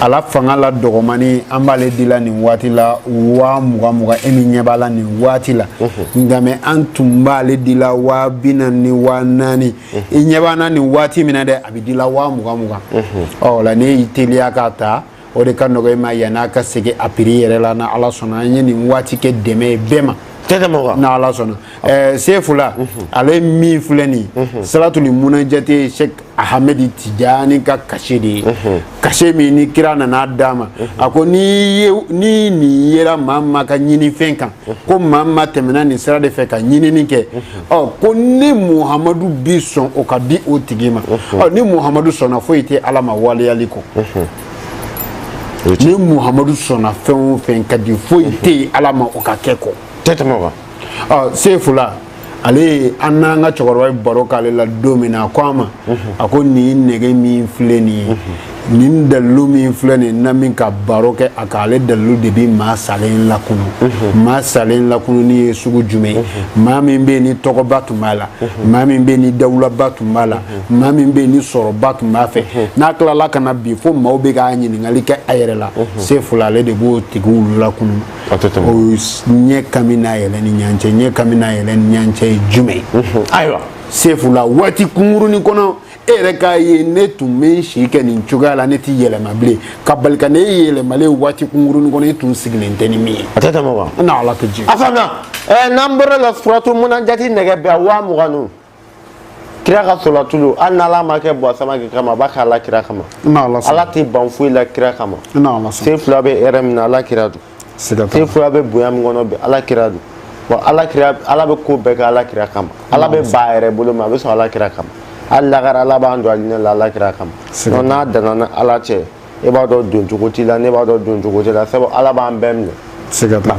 ala fanga la dɔgɔmani an b'ale dila nin waati la waa mugan mugan e min ɲɛ b'a la nin waati la nka mɛ an tun b'ale dila waa bi naani ni waa naani i ɲɛ b'an na nin waati min na dɛ a bɛ dila waa mugan mugan ɔ o la n'e y'i teliya k'a ta o de ka nɔgɔ i ma yann'a ka segin a piri yɛrɛ la na ala sɔnna an ye nin waati kɛ dɛmɛ ye bɛɛ ma na ala sɔnna ɛɛ sefula ale min filɛ nin salatuli munajate ahamɛdi tijani ka kashe de ye kashe min ni kira nana d'a ma a ko ni nin yera maa o maa ka ɲinifɛn kan ko maa o maa tɛmɛna nin sira de fɛ ka ɲinini kɛ ɔ ko ne muhamadu bi sɔn o ka di o tigi ma ɔ ni muhamadu sɔnna foyi tɛ ala ma waleyali kɔ ni muhamadu sɔnna fɛn o fɛn ka di foyi tɛ yen ala ma o ka kɛ kɔ tɛ tɛmɛ o kan ɔ sefula ale ye an n'an ka cɛkɔrɔba ye baro k'ale la don min na a ko a ma a ko nin nɛgɛ min filɛ nin ye nin dalilu min filɛ nin na min ka baro kɛ a kan ale dalilu de bi maa salen lakunu maa salen lakununi ye sugu jumɛn ye maa min bɛ yen ni tɔgɔba tun b'a la maa min bɛ yen ni dawulaba tun b'a la maa min bɛ yen ni sɔrɔba tun b'a fɛ n'a tilala ka na bin fo maaw bɛ k'a ɲininkali kɛ a yɛrɛ la sefula ale de b'o tigiw lakunu ɲɛ kami n'a yɛlɛ ni ɲɔgɔn cɛ ɲɛ kami n'a yɛlɛ ni ɲɔgɔn cɛ ye jumɛn ye ayiwa sefula waati kunkurunin kɔnɔ e yɛrɛ k'a ye ne tun bɛ n si kɛ nin cogoya la ne tɛ yɛlɛma bilen ka bali ka ne ye yɛlɛmalen waati kunkurunin kɔnɔ e tun sigilen tɛ ni min ye a tɛ tɛmɛ wa n na ala ka jigin a faamuya n'an bɔr'o la suratu munajati nɛgɛ bɛɛ waa mugan ninnu kira ka solatulu hali n'ala m'a kɛ bɔ samake kama a b'a kɛ ala kira kama ala tɛ ban foyi la kira kama sefula bɛ hɛrɛ min na ala kira don sefula bɛ bonya min kɔnɔ bi ala kira don wa ala bɛ ko bɛɛ kɛ ala kira kama ala bɛ ban a yɛrɛ bolo ma a bɛ sɔn ala kira kama hali lakara ala b'an don alijinɛ la ala kira kama n'a danna an ni ala cɛ e b'a dɔn doncogo t'i la ne b'a dɔn doncogo t'i la sabu ala b'an bɛɛ minɛ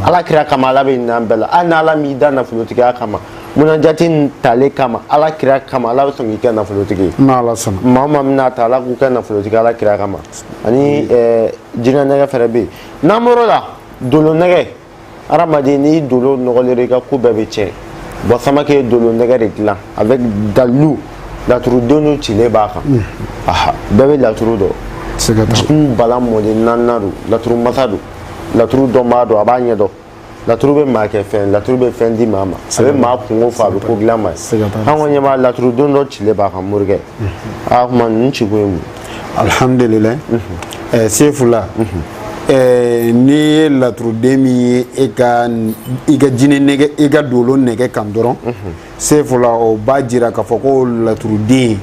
ala kira kama ala bɛ hin'an bɛɛ la hali n'ala m'i da nafolotigiya kama munajati in talen kama ala kira kama ala bɛ sɔn k'i kɛ nafolotigi ye maa o maa bɛn'a ta ala k'u kɛ nafolotigi ala kira kama ani jinɛ nɛgɛ fɛnɛ bɛ yen n'an bɔr'o la dolo nɛgɛ hadamaden n'i dolo nɔgɔlen i ka ko bɛɛ bɛ tiɲɛ bɔ samake ye dolo nɛgɛ de dilan avec dalilu laturuden cilen b'a kan aha bɛɛ bɛ laturu dɔn jitumu bala mɔden naaninan don laturu masa don laturu dɔnbaa don a b'a ɲɛ dɔn laturu bɛ maa kɛ fɛn laturu bɛ fɛn di maa ma a bɛ maa kunko fɔ a bɛ ko dilan maa ye an kɔni ɲɛ b'a laturuden dɔ cilen b'a kan morikɛ a kuma ninnu ci kun ye mun alhamdulillah eh, sefula eh, n'i ye laturuden min ye e ka i ka jinɛ nɛgɛ i ka dolo nɛgɛ kan dɔrɔn sefula o b'a jira k'a fɔ ko laturuden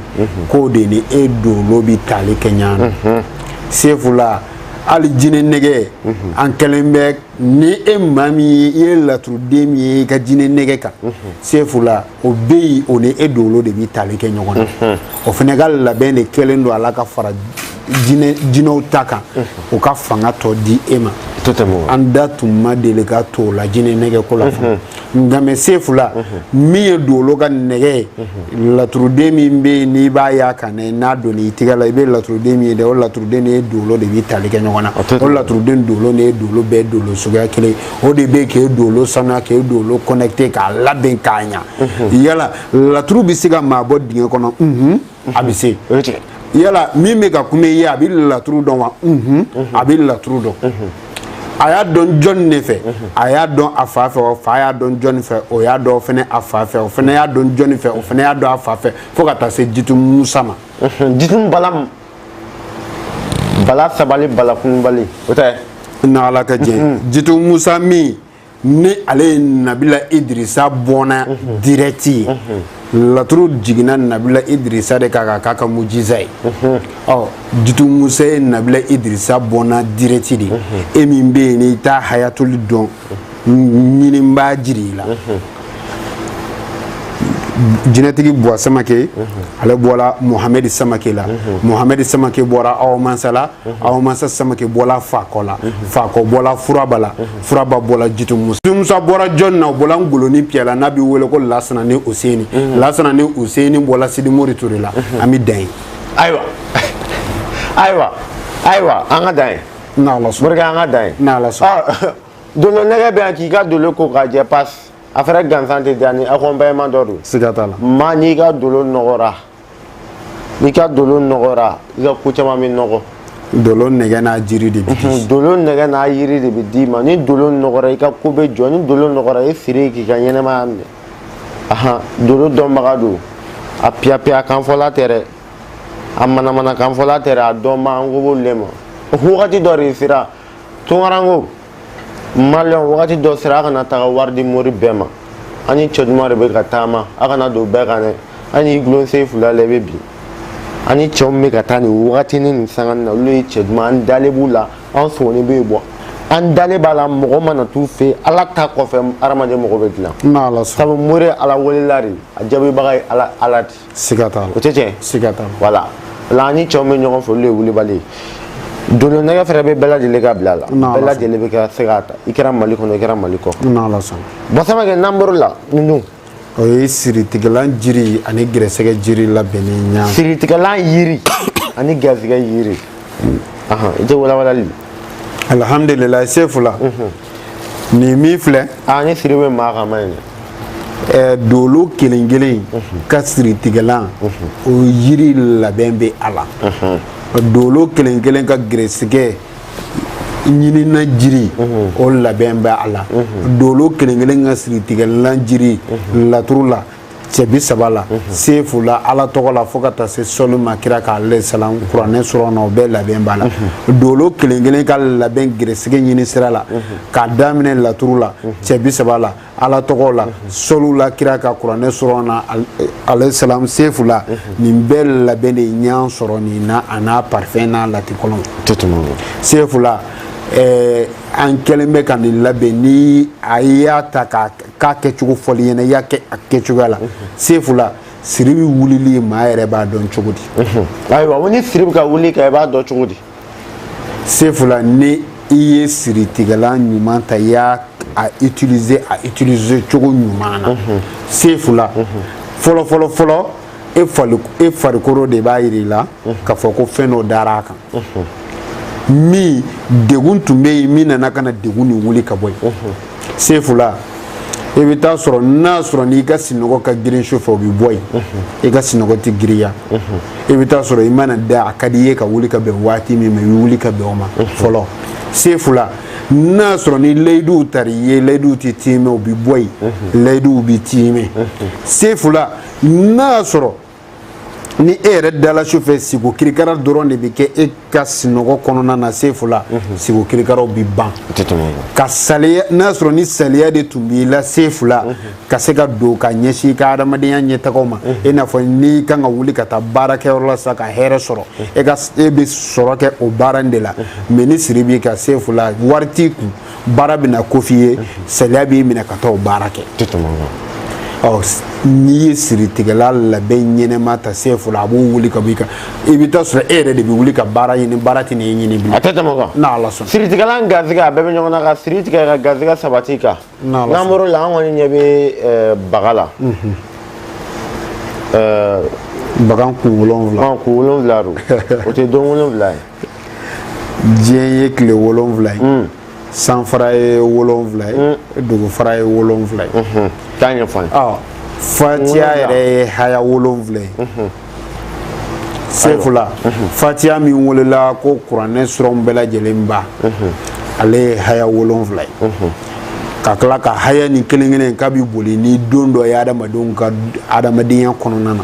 k'o de ni e dolo bi tali kɛ ɲɔgɔn na sefula hali jinɛ nɛgɛ an kɛlen bɛ ni e maa min ye i ye laturuden min ye i ka jinɛ nɛgɛ kan sefula o bɛ yen o ni e dolo de bɛ tali kɛ ɲɔgɔn na mhm. o fana ka labɛn de kɛlen don a la ka fara jinɛw ta kan mhm. o ka fanga tɔ di e ma an da tun ma deli ka to o la jinɛ nɛgɛ ko la fɔlɔ mhm. nka mɛ sefula min ye dolo ka nɛgɛ ye laturuden min bɛ yen n'i b'a y'a kan dɛ n'a donna i tɛgɛ la i bɛ laturuden min ye dɛ o laturuden de n'i dolo de bɛ tali kɛ ɲɔgɔn na o laturuden dolo de n'i dolo bɛɛ dolo suguya kelen o de bɛ k'e dolo sanuya k'e dolo connecté k'a labɛn k'a ɲa mhm. yala laturu bɛ se ka maa bɔ dingɛ kɔnɔ mhm. a bɛ se yala min bɛ ka kuma i ye a bɛ laturu dɔn wa mhm. a bɛ laturu dɔn a y'a dɔn jɔni de fɛ a y'a dɔn a fa fɛ o fa y'a dɔn jɔni fɛ o y'a dɔn fɛnɛ a fa fɛ o fɛnɛ y'a dɔn jɔni fɛ o fɛnɛ y'a dɔn a fa fɛ fo ka taa se jitumu musa ma jitumu bala bala sabali bala kunbali o tɛ na ala ka jɛ mm-hmm. jitu musa min ni ale ye nabila idirisa bɔnna mm-hmm. direct ye mm-hmm. laturu jiginna nabila idirisa de kan ka k'a ka mujiza ye ɔ jitu musa ye nabila idirisa bɔnna direct de ye e min bɛ yen n'i t'a hayatuli dɔn ɲini n b'a jira i la jinɛtigi buwa samake ale bɔra mohamɛdi samake la mohamɛdi samake bɔra awa mansa la awa mansa samake bɔra fakɔ la fakɔ bɔra furaba la furaba bɔra jitu musa jitu musa bɔra jɔni na o bɔra ngoloni piyɛ la n'a bɛ wele ko lasana ni useni lasana ni useni bɔra sidimori ture la an bɛ dan yen ayiwa ayiwa ayiwa an ka dan yen n'ala sɔnna barika an ka dan yen n'ala sɔnna dolo nɛgɛ bɛ yan k'i ka dolo ko k'a jɛ pasi a fɛnɛ gansan tɛ diya ni accompagnement dɔ don siga t'a la maa n'i ka dolo nɔgɔra n'i ka dolo nɔgɔra i ka ko caman bɛ nɔgɔ dolo nɛgɛ n'a jiri de bɛ di dolo nɛgɛ n'a yiri de bɛ d'i ma ni dolo nɔgɔra i ka ko bɛ jɔ ni dolo nɔgɔra i siri k'i ka ɲɛnɛmaya minɛ ahan dolo dɔnbaga don a piyapiya kanfɔla tɛ dɛ a manamana kanfɔla tɛ dɛ a dɔnba an kan b'olu le ma wagati dɔ de sera tunkaranke maliyɛn wagati dɔ sera a kana taga wari di mori bɛɛ ma an ni cɛ duman de bɛ ka taama a kana don bɛɛ kan dɛ an y'i gulon se fila la i bɛ bin an ni cɛw bɛ ka taa nin wagatinin nin sangani na olu ye cɛ duman an dalen b'u la an sɔgɔni bɛ yen bɔ an dalen b'a la mɔgɔ mana t'u fɛ yen ala ta kɔfɛ hadamaden mɔgɔ bɛ dilan sabu mori ye ala welela de a jaabibaga ye ala ala de siga t'a la o tɛ tiɲɛ siga t'a la voilà an ni cɛw bɛ ɲɔgɔn fɛ olu de ye wulibali ye dolo nɛgɛ fɛnɛ bɛ bɛɛ lajɛlen ka bila la bɛɛ lajɛlen bɛ ka se k'a ta i kɛra mali kɔnɔ i kɛra mali kɔ n'ala sɔnna buwa samake n'an bɔr'o la ninnu o ye siritigɛlan jiri ani gɛrɛsɛgɛ jiri labɛnnen ɲa siritigɛlan yiri ani gɛrɛsɛgɛ yiri i tɛ walawalali alhamdulilayi sefula nin min filɛ ni siri bɛ maa kan ma ye dɛ dolo kelen kelen ka siritigɛlan o yiri labɛn bɛ a la dolo kelen kelen ka gɛrɛsigɛ ɲinina jiri o labɛn bɛ a la dolo kelen kelen ka siritigɛlan jiri laturu la cɛ bi saba la mhm. sefu la ala tɔgɔ la fo ka taa se sɔli ma kira kan ale salam kuranɛ surɔ na o bɛɛ labɛn b'a la mhm. dolo kelen kelen ka labɛn gɛrɛsɛgɛ ɲini sira la mhm. k'a daminɛ laturu la cɛ bi saba la ala tɔgɔ la sɔliw la kira kan kuranɛ surɔ na ale salam sefu la nin bɛɛ labɛn de ɲan sɔrɔ nin na a n'a parfɛn n'a latikɔlɔn sefu la eh, an kɛlen bɛ ka nin labɛn ni a y'a ta k'a k'a kɛcogo fɔli ɲɛna i y'a kɛ a kɛcogoya la sefu la siri bɛ wulili maa yɛrɛ b'a dɔn cogo di ayiwa ni siri bɛ ka wuli i kan i b'a dɔn cogo di sefu la ni i ye siritigɛlan ɲuman ta i y'a utiliser a utiliser cogo ɲuman na sefu la fɔlɔ fɔlɔ fɔlɔ e farikolo de b'a yira i la k'a fɔ ko fɛn dɔ dara a kan min degun tun bɛ yen min nana ka na degun nin wuli ka bɔ yen sefula i bɛ taa sɔrɔ n'a sɔrɔ n'i ka sinɔgɔ ka girin su fɛ o bɛ bɔ yen i ka sinɔgɔ tɛ girinya i bɛ taa sɔrɔ i mana da a ka di i ye ka wuli ka bɛn waati min ma i bɛ wuli ka bɛn o ma fɔlɔ sefula n'a sɔrɔ ni layiduw tara i ye layiduw tɛ tiimɛ o bɛ bɔ yen layiduw bɛ tiimɛ sefula n'a sɔrɔ ni e yɛrɛ dala su fɛ siko kirikara dɔrɔn de bɛ kɛ e ka sinɔgɔ kɔnɔna na sefu la mhm. siko kirikaraw bɛ ban ka saliya n'a sɔrɔ ni saliya de tun b'i la sefu la mhm. ka se ka don ka ɲɛsin i ka adamadenya ɲɛtagaw ma mhm. i n'a fɔ n'i kan ka wuli ka taa baarakɛyɔrɔ la sa ka hɛrɛ sɔrɔ e ka e bɛ sɔrɔ kɛ o baara in de la mais ni siri b'i kan sefu la wari t'i kun baara bɛ na k'o f'i ye saliya b'i minɛ ka taa o baara kɛ n'i ye siritigɛlan labɛn ɲɛnɛma ta sefula a b'o wuli ka bɔ i kan i bɛ taa sɔrɔ e yɛrɛ de bɛ wuli ka baara ɲini baara tɛ n'e ɲini bilen a tɛ tɛmɛ o kan n'ala sɔnna siritigɛlan ni garisɛgɛ a bɛɛ bɛ ɲɔgɔn na ka siri tigɛ ka garisɛgɛ sabati kan n'ala sɔnna n'an bɔr'o la an kɔni ɲɛ bɛ baga la bagan kun wolonwula kun wolonwula don o tɛ don wolonwula ye diɲɛ ye tile wolonwula ye hmm. sanfara ye wolonwula ye hmm. dugufara ye wolonwula ye hmm. taa ɲɛfɔ an ye fatiya yɛrɛ ye haya wolonwula ye sefula fatiya min welela ko kuranɛ surɔw bɛɛ lajɛlen ba ale ye haya wolonwula ye ka tila ka haya ni kelen kelen k'a bɛ boli ni don dɔ ye adamadenw ka adamadenya kɔnɔna na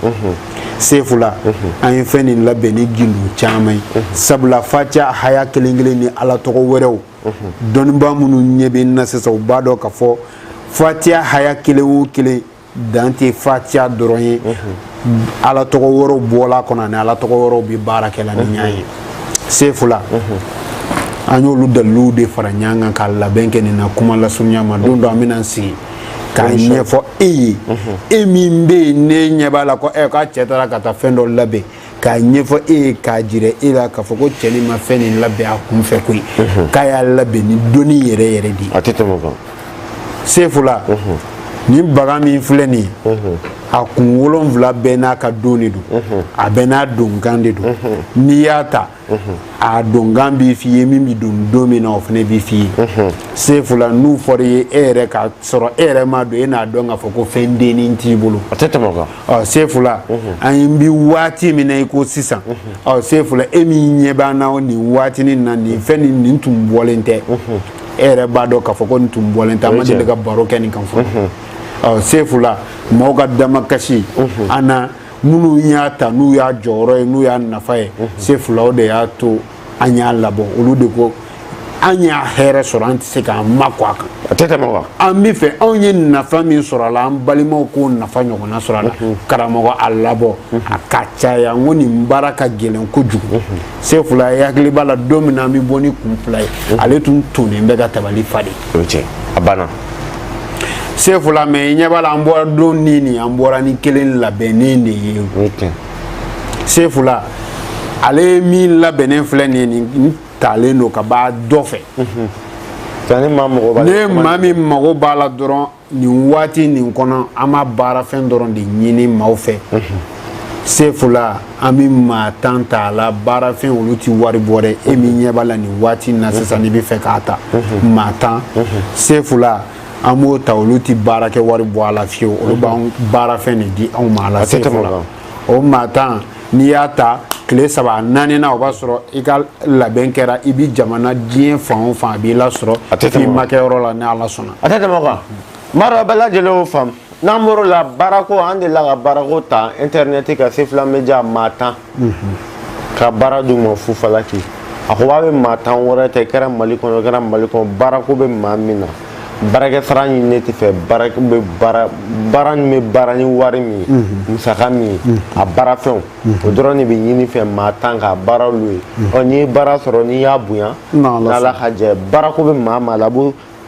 sefula an ye fɛn nin labɛn ni gindo caman ye sabula fatiya haya kelen kelen ni ala tɔgɔ wɛrɛw dɔnnibaa minnu ɲɛ bɛ n na sisan u b'a dɔn k'a fɔ fatiya haya kelen o kelen dan tɛ fatiya dɔrɔn ye ala tɔgɔ wɛrɛw bɔl'a kɔnɔ ani ala tɔgɔ wɛrɛw bɛ baara kɛ la ni a ye sefula an y'olu daliluw de fara ɲɔgɔn kan ka labɛn kɛ nin na kuma lasurunya ma don dɔ an bɛna an sigi k'a ɲɛfɔ e ye e min bɛ yen ne ɲɛ b'a la ko ɛ k'a cɛ taara ka taa fɛn dɔ labɛn k'a ɲɛfɔ e ye k'a jira e la k'a fɔ ko cɛ nin ma fɛn nin labɛn a kun fɛ koyi k'a y'a labɛn ni dɔnni yɛrɛ yɛrɛ de ye a tɛ tɛmɛ o kan sefula nin baga min filɛ nin ye a kun wolonwula bɛɛ n'a ka don de don a bɛɛ n'a donkan de don n'i y'a ta a donkan b'i f'i ye min bɛ don don min na o fana b'i f'i ye sefula n'u fɔra i ye e yɛrɛ ka sɔrɔ e yɛrɛ m'a don e n'a dɔn k'a fɔ ko fɛn dennin t'i bolo a tɛ tɛmɛ o kan sefula an ye bi waati min na i ko sisan ɔ sefula e min ɲɛ b'an na nin waati nin na nin fɛn nin nin tun bɔlen tɛ e yɛrɛ b'a dɔn k'a fɔ ko nin tun bɔlen tɛ an ma deli ka baro kɛ nin kan fɔlɔ ɔ sefula mɔgɔw ka damakasi an na minnu y'a ta n'u y'a jɔyɔrɔ ye n'u y'a nafa ye sefula o de y'a to an y'a labɔ olu de ko an y'a hɛrɛ sɔrɔ an tɛ se k'an makun a kan a tɛ tɛmɛ o kan an bɛ fɛ anw ye nafa min sɔrɔ a la an balimaw k'o nafa ɲɔgɔnna sɔrɔ a la karamɔgɔ a labɔ a ka caya n ko nin baara ka gɛlɛn kojugu sefula e hakili b'a la don min na an bɛ bɔ ni kun fila ye ale tun tonnen bɛ ka tabali fa de o ye tiɲɛ a banna sefula mɛ i ɲɛ b'a la an bɔra don nin nin an bɔra ni kelen labɛnnen de ye sefula ale ye min labɛnnen filɛ nin ye nin talen don ka b'a dɔ fɛ ni maa min mago b'a la dɔrɔn nin waati nin kɔnɔ an b'a baarafɛn dɔrɔn de ɲini maaw fɛ sefula an bɛ maa tan ta a la baarafɛn olu tɛ wari bɔ dɛ e min ɲɛ b'a la nin waati in na sisan n'i bɛ fɛ k'a ta maa tan sefula an b'o ta olu tɛ baarakɛ wari bɔ a la fiyewu olu b'an baarafɛn de di anw ma a la sefula o maa tan n'i y'a ta tile saba a naaninan o b'a sɔrɔ i ka labɛn kɛra i bi jamana diɲɛ fan o fan a b'i lasɔrɔ i ma kɛ yɔrɔ la ni ala sɔnna a tɛ tɛmɛ o kan Mara bɛɛ lajɛlen y'o faamu n'an bɔr'o la baarako an delila ka baarako ta intɛrɛnɛti kan sefula mediya maa tan ka baara d'u ma fufalaki a ko a bɛ maa tan wɛrɛ ta i kɛra mali kɔnɔ i kɛra mali kɔnɔ baarako bɛ maa min na baarakɛ sara ɲininen t'i fɛ baara bɛ baara min bɛ baara ni wari min ye musaka min ye a baarafɛnw o dɔrɔn de bɛ ɲini i fɛ maa tan ka baara olu ye ɔ n'i ye baara sɔrɔ n'i y'a bonya n'ala ka jɛ baarako bɛ maa o maa la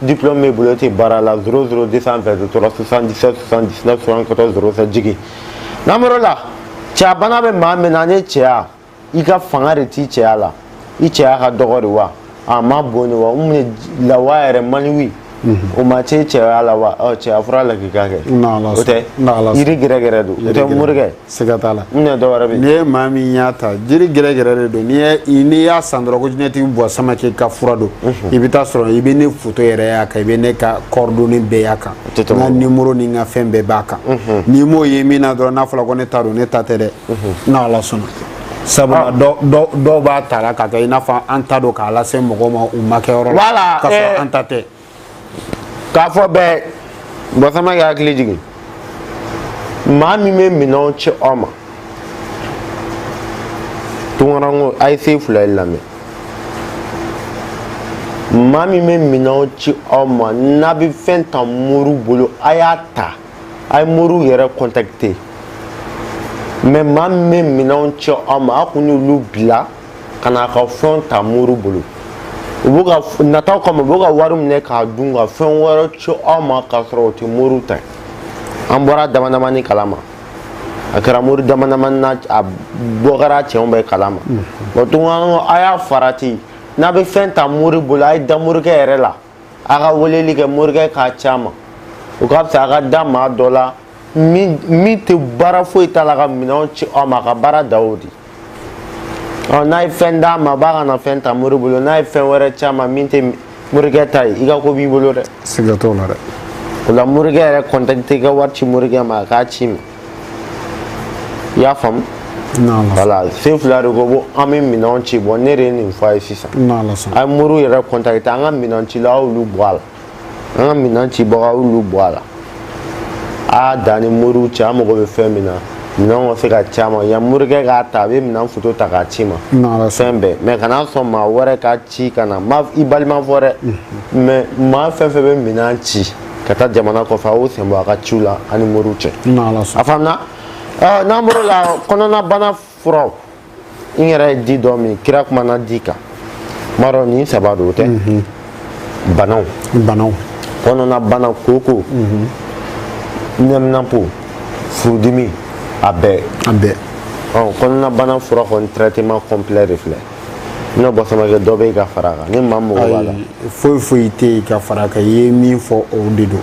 diplôme b'i bolo e tɛ baara la zéro zéro deux cent vingt trois soixante dix sept soixante dix neuf soixante quatorze zéro sept jigi n'an bɔr'o la cɛya bana bɛ maa min na ani cɛya i ka fanga de t'i cɛya la i cɛya ka dɔgɔ de wa a ma bon de wa o min ye lawa yɛrɛ maniwi o man ca i cɛya la wa ɔ cɛya fura lakika kɛ o tɛ yiri gɛrɛgɛrɛ don o tɛ morikɛ siga t'a la ne dɔ wɛrɛ bɛ n'i ye maa min y'a ta jiri gɛrɛgɛrɛ de don n'i n'i y'a san dɔrɔn ko jinɛtigi bɔ samakɛ ka fura don i bɛ taa sɔrɔ i bɛ ne foto yɛrɛ y'a kan i bɛ ne ka coordonnées bɛɛ y'a kan n ka nimoro ni n ka fɛn bɛɛ b'a kan n'i m'o ye min na dɔrɔn n'a fɔra ko ne ta don ne ta tɛ dɛ n'ala sɔnna sabula dɔw b'a ta la ka kɛ i n'a fɔ an ta don k'a lase mɔgɔw ma u ma kɛ yɔrɔ la k'a sɔrɔ an ta tɛ k'a fɔ bɛɛ bɔ samakɛ hakili jigin maa min bɛ minɛnw ci aw ma tunkarankew a ye sefulaye lamɛn maa min bɛ minɛnw ci aw ma n'a bɛ fɛn ta mori bolo a y'a ta a ye mori yɛrɛ contacter mɛ maa min bɛ minɛnw ci aw ma a kun y'olu bila ka na ka fɛnw ta mori bolo u b'u ka nataw kama u b'u ka wari minɛ k'a dun ka fɛn wɛrɛ ci aw ma k'a sɔrɔ o tɛ mori ta an bɔra damadamani kalama a kɛra mori damadamani na a bɔ kɛra cɛw bɛɛ kalama bɔn tun a y'a farati n'a bɛ fɛn ta mori bolo a ye da morikɛ yɛrɛ la a ka weleli kɛ morikɛ k'a ci a ma o ka fisa a ka da maa dɔ la min min tɛ baara foyi t'a la ka minɛnw ci aw ma a ka baara da o de ɔ n'a ye fɛn d'a ma a bɛ ka na fɛn ta mori bolo n'a ye fɛn wɛrɛ ci a ma min tɛ morikɛ ta ye i ka ko b'i bolo dɛ siga t'o la dɛ o la morikɛ yɛrɛ contacter i ka wari ci morikɛ ma a k'a ci ma i y'a faamu wala sefula de ko bɔn an bɛ minɛnw ci bɔn ne de ye nin fɔ a ye sisan a ye mori yɛrɛ contacter an ka minɛn cila aw y'olu bɔ a la an ka minɛn cibaga aw y'olu bɔ a la a y'a dan ni mori cɛ an mago bɛ fɛn min na minɛnw ka se ka ci a ma yan morikɛ k'a ta a bɛ minɛn foto ta k'a ci ma fɛn bɛɛ mɛ kana sɔn maa wɛrɛ ka ci ka na i balima fɔ dɛ mɛ maa fɛn fɛn bɛ minɛn ci ka taa jamana kɔfɛ a y'o sen bɔ a ka ciw la a ni mori cɛ a faamuna n'an bɔr'o la kɔnɔnabana furaw n yɛrɛ ye di dɔ min kira kumana di kan n b'a dɔn nin saba don o tɛ mhm. banaw banaw kɔnɔnabana kooko mhm. nɛminapo furudimi a bɛɛ a bɛɛ kɔnɔnabana fura kɔni traitement complet de filɛ n'o bɔ samakɛ dɔ bɛ yen ka fara a kan ni maa mago b'a la foyi foyi tɛ yen ka fara a kan i ye min fɔ o de don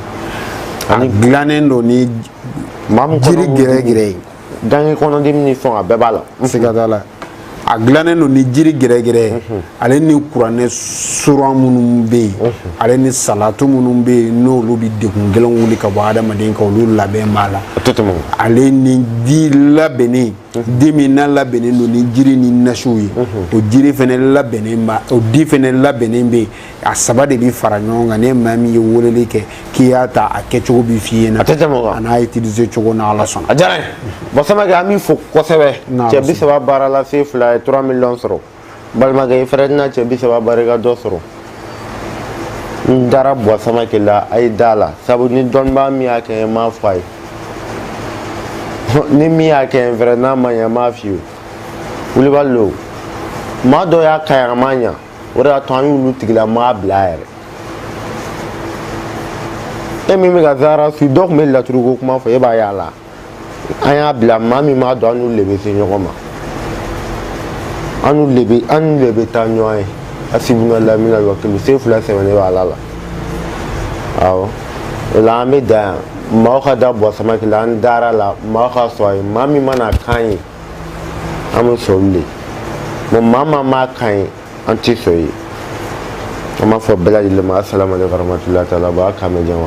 a dilannen don ni jiri gɛrɛgɛrɛ ye ganke kɔnɔdimi ni fɛnw a bɛɛ b'a la siga t'a la a dilannen don ni jiri gɛrɛgɛrɛ ye ale ni kuranɛ suran minnu bɛ yen ale ni salatu minnu bɛ yen n'olu bɛ degun gɛlɛnw wuli ka bɔ adamaden kan olu labɛn b'a la ale ni di labɛnnen di min n'a labɛnnen don ni jiri ni nasiw ye o jiri fana labɛnnen ba o di fana labɛnnen bɛ yen a saba de bɛ fara ɲɔgɔn kan ni maa min ye weleli kɛ k'i y'a ta a kɛcogo bɛ f'i ɲɛna a n'a utiliser cogo n'a ala sɔnna a diyara n ye buwa samakɛ an b'i fo kosɛbɛ N'a cɛ bi saba baara la se fila ye 3 miliyɔn sɔrɔ balimakɛ i fɛnɛ tɛna cɛ bi saba barika dɔ sɔrɔ n dara buwa samakɛ la a ye da a la sabu ni dɔnnibaa min y'a kɛ n m'a fɔ a ye ni min y'a kɛ n fɛnɛ n'a ma ɲɛ n m'a f'i ye wulibali lo maa dɔ y'a k'an ye a ma ɲa o de y'a to an y'olu tigilamaa bila yɛrɛ e min bɛ ka zara su dɔ tun bɛ laturuko kuma fɔ e b'a y'a la an y'a bila maa min b'a dɔn an n'olu de bɛ se ɲɔgɔn ma an n'olu de bɛ an n'olu de bɛ taa ɲɔgɔn ye hasibunalayi wa nimal wakilu se fila sɛmɛnen bɛ ala la awɔ o la an bɛ dan yan maaw ka da buwa samakɛ la an dara a la maaw ka sɔn a ye maa min mana k'an ye an bɛ sɔn olu de ma maa m'a k'an ye an tɛ sɔn ye an b'a fɔ bɛɛ lajɛlen ma asalaamualeykum warahmatulahi taala wa barakatuhu